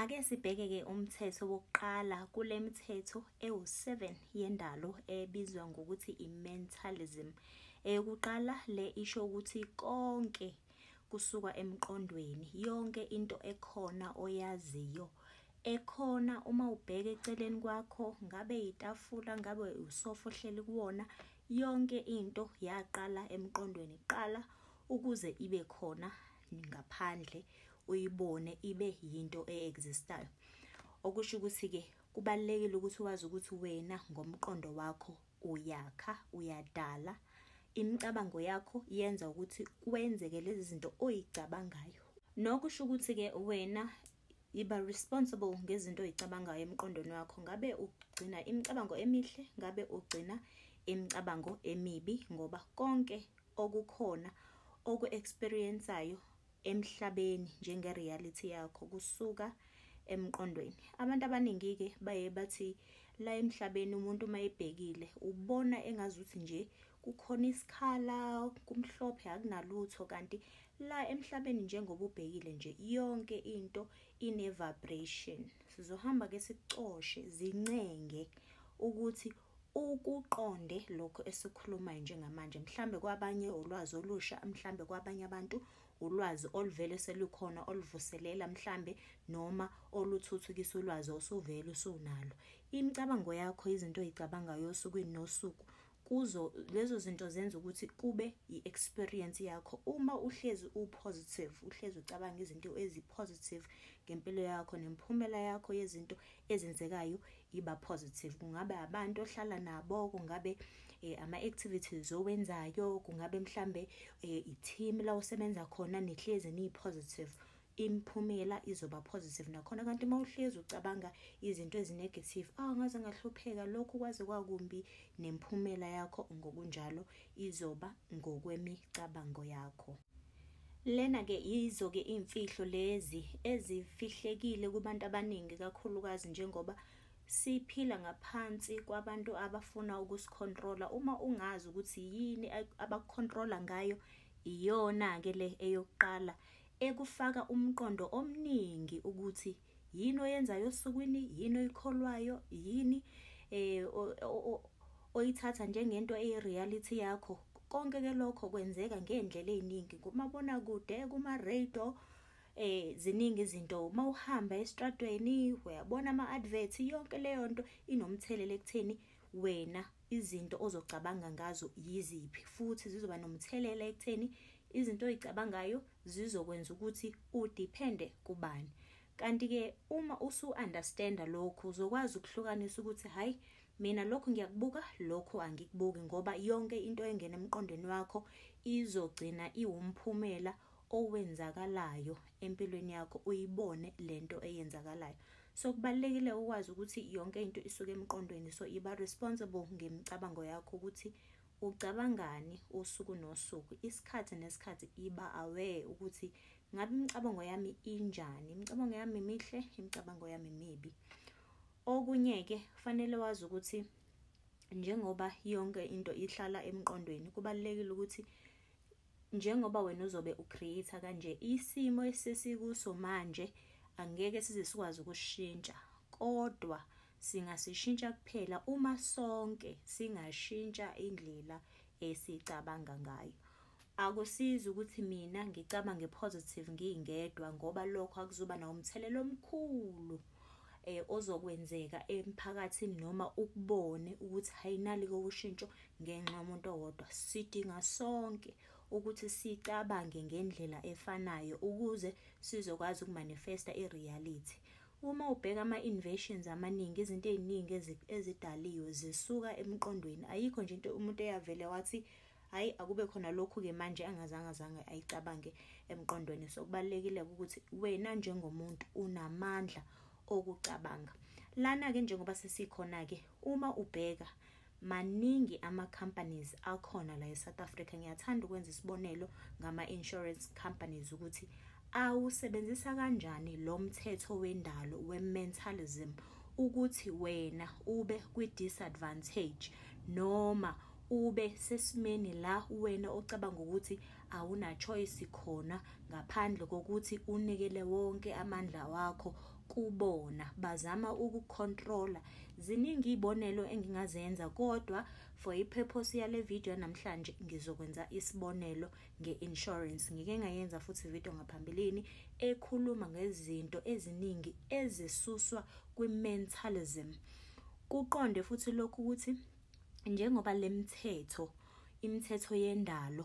Ake sibheke-ke umthetho wokuqala kule mithetho ewu-7 yendalo ebizwa ngokuthi i-mentalism. Eyokuqala le isho ukuthi konke kusuka emqondweni, yonke into ekhona oyaziyo ekhona uma ubheka eceleni kwakho ngabe yitafula ngabe usofa ohleli kuwona yonke into yaqala emqondweni qala ukuze ibe khona ngaphandle uyibone ibe yinto e-existayo okusho ukuthi-ke kubalulekile ukuthi wazi ukuthi wena ngomqondo wakho uyakha uyadala imicabango yakho yenza ukuthi kwenzeke lezi zinto oyicabangayo nokusho ukuthi-ke wena Yiba responsible ngezinto oyicabangayo emqondweni wakho. Ngabe ugcina imicabango emihle, ngabe ugcina imicabango emibi ngoba konke okukhona oku-experiensayo emhlabeni njenge-reality yakho kusuka emqondweni. Abantu abaningi-ke baye bathi la emhlabeni umuntu uma ebhekile ubona engazuthi nje kukhona isikhala kumhlophe akunalutho kanti La emhlabeni njengoba ubhekile nje yonke into ine vibration. Sizohamba ke sicoshe zincenge ukuthi ukuqonde lokho esikhulumayo njengamanje mhlambe kwabanye ulwazi olusha mhlambe kwabanye abantu ulwazi oluvele selukhona oluvuselela mhlambe noma oluthuthukisa ulwazi osuvele usunalo imicabango yakho izinto oyicabangayo osukwini nosuku kuzo lezo zinto zenza ukuthi kube i-experience yakho uma uhlezi u-positive uhlezi ucabanga izinto ezi-positive ngempilo yakho nemiphumela yakho yezinto ezenzekayo iba positive kungabe abantu ohlala nabo kungabe eh, ama-activities owenzayo kungabe mhlambe eh, i-team la usebenza khona nihlezi niyi-positive imiphumela izoba positive nakhona kanti uma uhlezi ucabanga izinto ezinegative awu ah, ngaze ngahlupheka lokhu kwaze kwakumbi nemphumela yakho ngokunjalo izoba ngokwemicabango yakho lena ke yizo ke imfihlo lezi ezifihlekile kubantu abaningi kakhulukazi njengoba siphila ngaphansi kwabantu abafuna ukusikhontrola uma ungazi ukuthi yini abakukhontrola ngayo iyona ke le eyokuqala ekufaka umqondo omningi ukuthi yini oyenzayo osukwini yini oyikholwayo yini eh oyithatha njengento eyi-reality yakho konke ke lokho kwenzeka ngey'ndlela ey'ningi kumabonakude kuma-radio eh ziningi izinto uma uhamba estradweni uyabona ama-advert yonke leyo nto inomthelela ekutheni wena izinto ozocabanga ngazo yiziphi futhi zizoba nomthelela ekutheni izinto oyicabangayo zizokwenza ukuthi udiphende kubani kanti-ke uma usu-understanda lokhu uzokwazi ukuhlukanisa ukuthi hhayi mina lokhu ngiyakubuka lokhu angikubuki ngoba yonke into engena emqondweni wakho izogcina iwumphumela owenzakalayo empilweni yakho uyibone lento eyenzakalayo so kubalekile ukwazi ukuthi yonke into isuke emqondweni so iba responsible ngemicabango yakho ukuthi ucabangani usuku nosuku isikhathi nesikhathi iba aware ukuthi ngabe imicabango yami injani imicabango yami mihle imicabango yami mibi okunye ke kufanele wazi ukuthi njengoba yonke into ihlala emqondweni kubalekile ukuthi njengoba wena uzobe ucreate kanje isimo esisikuso manje angeke size sikwazi ukushintsha kodwa singasishintsha kuphela uma sonke singashintsha indlela esicabanga ngayo akusizi ukuthi mina ngicabange positive ngingedwa ngoba lokho akuzoba nawo umthelela omkhulu eh ozokwenzeka emphakathini noma ukubone ukuthi hayinali kokushintsho ngenxa yomuntu owodwa sidinga sonke ukuthi sicabange ngendlela efanayo ukuze sizokwazi ukumanifesta ireality uma ubheka ama-invasions amaningi izinto ey'ningi ezidaliwe zisuka emqondweni ayikho nje into umuntu eyavele wathi hayi akube khona lokhu-ke manje angazange azange ayicabange emqondweni so kubalulekile-ke ukuthi wena njengomuntu unamandla okucabanga lana-ke njengoba sesikhona-ke uma ubheka maningi ama-companies akhona la e-south africa ngiyathanda ukwenza isibonelo ngama-insurance companies ukuthi awusebenzisa kanjani lo mthetho wendalo we-mentalism ukuthi wena ube kwi-disadvantage noma ube sesimeni la wena ocabanga ukuthi awuna choice khona ngaphandle kokuthi unikele wonke amandla wakho kubona bazama ukucontrola ziningi izibonelo engingazenza kodwa for ipurpose yale video namhlanje ngizokwenza isibonelo ngeinsurance ngike ngayenza futhi video ngaphambilini ekhuluma ngezinto eziningi ezisuswa kwimentalism kuqonde futhi lokhu ukuthi njengoba lemthetho imithetho yendalo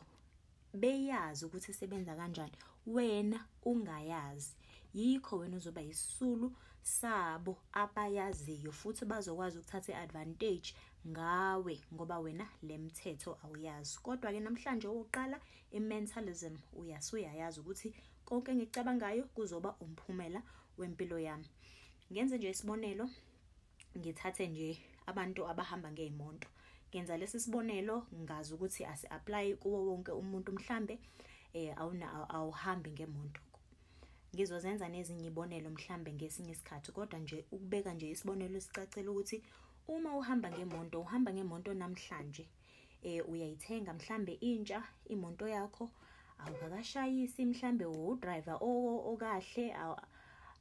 beyazi ukuthi sebenza kanjani wena ungayazi yikho wena uzoba yisisulu sabo abayaziyo futhi bazokwazi ukuthatha i-advantage ngawe ngoba wena le mthetho awuyazi kodwa-ke namhlanje owokuqala i-mentalism uyasuyayazi ukuthi konke engikucabangayo kuzoba umphumela wempilo yami ngenze nje isibonelo ngithathe nje abantu abahamba ngey'monto ngenza lesi sibonelo ngazi ukuthi asi-apply kuwo wonke umuntu mhlambe eh awuna awuhambi ngemonto ngizozenza nezinye ibonelo mhlambe ngesinye isikhathi kodwa nje ukubeka nje isibonelo sicacela ukuthi uma uhamba ngemonto uhamba ngemonto namhlanje eh uyayithenga mhlambe intsha imoto yakho awukakashayisi mhlambe udriver okahle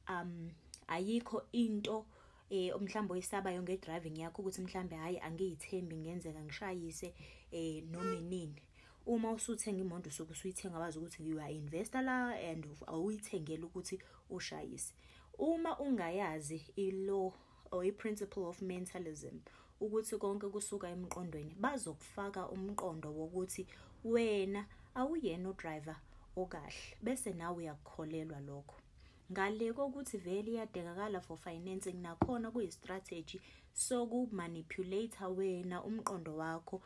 um ayikho into eh mhlawumbe oyisabayo ngedriving yakho ukuthi mhlambe hayi angiyithembi ngenzeka ngishayise eh noma inini uma usuthenga imoto usuke usuyithenga wazi ukuthi you are investor la and awuyithengele ukuthi ushayise uma ungayazi ilo or i-principle of mentalism ukuthi konke kusuka emqondweni bazokufaka umqondo wokuthi wena awuyena udriver okahle bese nawe uyakukholelwa lokho ngale kokuthi vele iyadekakala for financing nakhona kuyi-strategy sokumanipulate wena umqondo wakho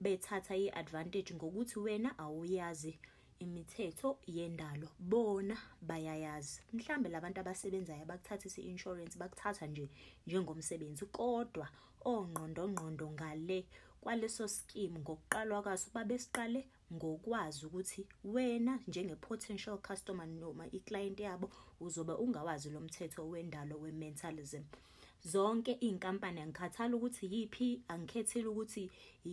bethatha i-advantage ngokuthi wena awuyazi imithetho yendalo bona bayayazi mhlambe labantu abasebenzayo abakuthathisa i-insurance bakuthatha nje njengomsebenzi kodwa ongqondongqondo ngale kwaleso scheme ngokuqalwa kwaso babesiqale ngokwazi ukuthi wena njenge-potential customer noma i-client yabo uzobe ungawazi lo mthetho wendalo we-mentalism zonke iy'nkampani angikhathali ukuthi yiphi angikhethile ukuthi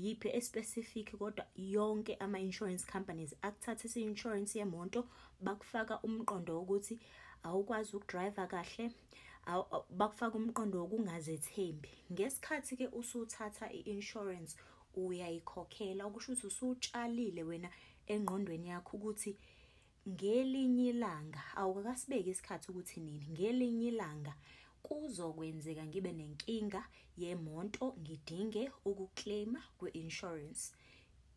yiphi especific kodwa yonke ama-insurance companies akuthathisa i-insurance yemoto bakufaka umqondo wokuthi awukwazi ukudriva kahle bakufaka umqondo wokungazethembi ngesikhathi-ke usuthatha i-insurance uyayikhokhela okusho ukuthi usutshalile wena engqondweni yakho ukuthi ngelinye ilanga awukakasibeki isikhathi ukuthi nini ngelinye ilanga kuzokwenzeka ngibe nenkinga yemonto ngidinge ukuclaima kwi-insurance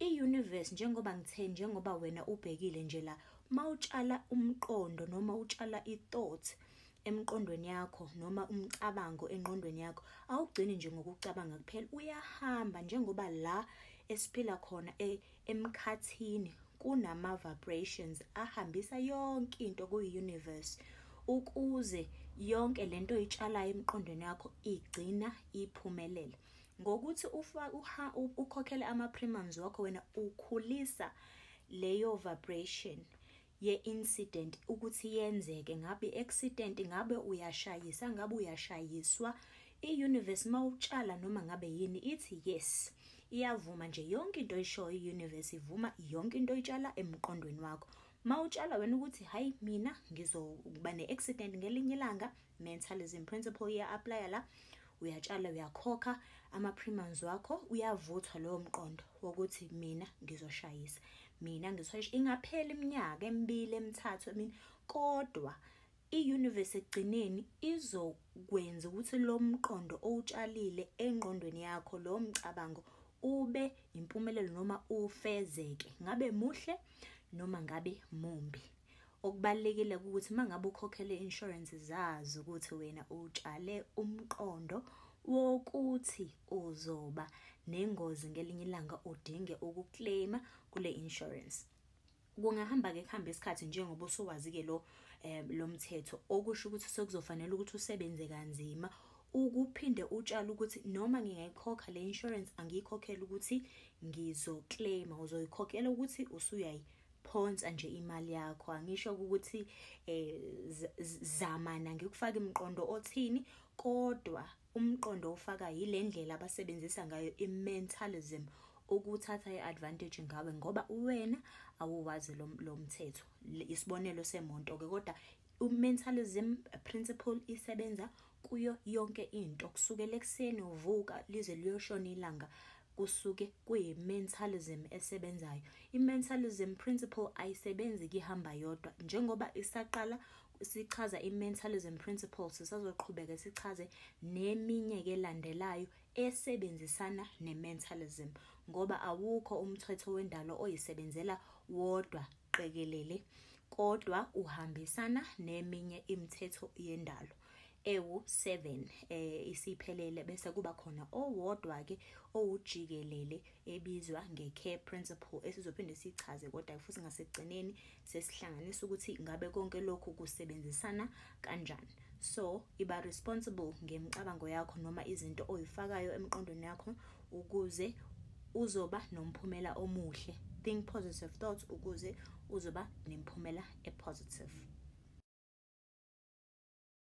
i-universe njengoba ngithe njengoba wena ubhekile nje la mawutshala umqondo noma utshala i-thought emqondweni yakho noma umcabango enqondweni yakho awugcini nje ngokucabanga kuphela uyahamba njengoba la esiphila khona e, Emkhathini kunama-vibrations ahambisa yonke into kuyi-universe ukuze yonke le nto oyitshalayo emqondweni yakho igcina iphumelela ngokuthi ukhokhele ama-premiums wakho wena ukhulisa leyo vibration ye incident ukuthi yenzeke ngabe accident ngabe uyashayisa ngabe uyashayiswa i-universe mawutshala noma ngabe yini ithi yes iyavuma nje yonke into oyishoyo i-universe ivuma yonke into oyitshala emqondweni wakho mawutshala wena ukuthi hayi mina ngizokuba ne-accident ngelinye ilanga mentalism principle uya-aplaya la uyatshala uyakhokha ama-premiums wakho uyavuthwa lowo mqondo wokuthi mina ngizoshayisa mina ngizoshayisa ingaphela iminyaka emibili emithathu emini kodwa i-universe ekugcineni izokwenza ukuthi lo mqondo owutshalile engqondweni yakho lowo mcabango ube impumelelo noma ufezeke ngabe muhle noma ngabe mumbi Okubalulekile ukuthi uma ngabe ukhokhele insurance zazi ukuthi wena utshale umqondo wokuthi uzoba nengozi ngelinye ilanga udinge ukuclaima kule insurance. Kungahamba ke kuhambe isikhathi njengoba usuwazi ke lo um lo mthetho okusho ukuthi sekuzofanele ukuthi usebenze kanzima ukuphinde utshale ukuthi noma ngingayikhokha le insurance angiyikhokhela ukuthi ngizoclaima uzoyikhokhela ukuthi usuyayi phonsa nje imali yakho angisho ukuthi eh zamana ngikufaka imqondo othini kodwa umqondo ofaka yilendlela abasebenzisa ngayo imentalism ukuthatha iadvantage ngawe ngoba uwena awuwazi lo mthetho isibonelo semonto ke kodwa umentalism principle isebenza kuyo yonke into kusukela ekuseni uvuka lize liyoshona ilanga kusuke kuyi-mentalism esebenzayo i-mentalism principle ayisebenzi kihamba yodwa njengoba isaqala sichaza i-mentalism principle sisazoqhubeka sichaze neminye ke landelayo esebenzisana ne-mentalism ngoba awukho umthetho wendalo oyisebenzela wodwa qekelele kodwa uhambisana neminye imithetho yendalo ewu-7 eh isiphelele bese kuba khona owodwa ke owujikelele ebizwa nge-care principle esizophinde sichaze kodwa futhi ngasekugcineni sesihlanganisa ukuthi ngabe konke lokhu kusebenzisana kanjani so iba responsible ngemicabango yakho noma izinto oyifakayo emqondweni yakho ukuze uzoba nomphumela omuhle think positive thoughts ukuze uzoba nemphumela epositive